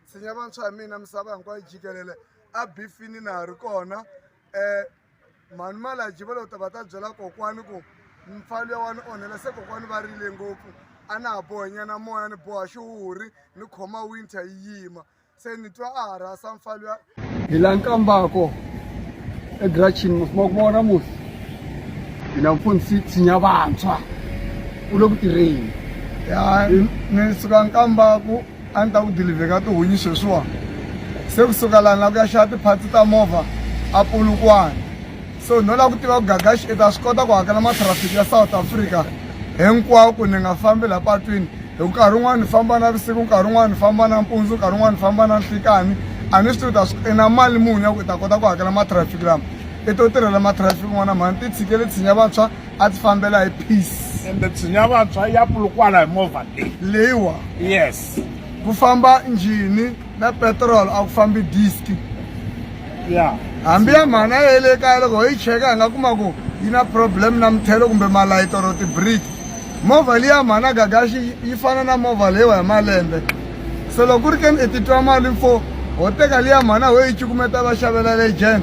tshinya vantshwa ya mina misava hinkwayo jikelele a bifini na ha ri kona um mhani malaji va lo ta va ta byela kokwani ku mfalo ya wani onhela se kokwani va rile ngopfu a na ha bohenyana moya ni boha xihuhuri ni khoma winter yi yima se ni twa a ha rhasa mfalo ya hi la nkambako egrachini musima ku vona musi hi na mfundhisi tshinya vantshwa u le ku tirheni ya ni suka nkambako a ni ta ku dilivheka tihunyi sweswiwani se kusuka lani la ku ya xava tiphatsi ta movha a pulukwana So no lava ku tiva ku Gagashi i ta swi kota ku hakela matrafiki ya South Africa hinkwawo ku ni nga fambi laha patwini hi ku nkarhi wun'wani ni famba na vusiku nkarhi wun'wani ni famba na mpundzu nkarhi wun'wani ni famba na nhlikani a ni swi tivi ta swi i na mali muni ya ku i ta kota ku hakela matrafiki lama i to tirhela matrafiki n'wana mhani ti tshikele tshinya vantshwa a ti fambela hi peace ende tshinya vantshwa ya pulukwala hi movha leyi leyiwa yes ku famba njhini na petrol a ku fambi disk ya hambi ya mhana ye le kaya loko ho yi cheka hi nga kuma ku yi na problem na muthelo kumbe malayiti or tibrick movha liya mhana gagaxi yi fana na movha leyiwa hi malembe se loko ku ri ke ni i titwa mali mfo ho teka liya mhana ho yi cukumeta va xavela legend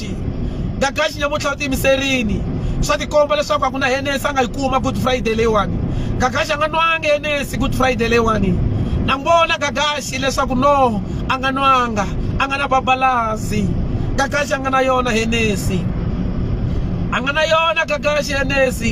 Friday nga gaxi nyamuntlha u tiyimiserini swa tikomba leswaku a ku na henesi a nga yi kuma good friday leyiwani gagaxi a nga nwanga henesi good friday leyiwani na n'wi vona gagaxi leswaku no a nga nwanga a nga na babalazi gagaxi a nga na yona henesi a nga na yona gagaxi henesi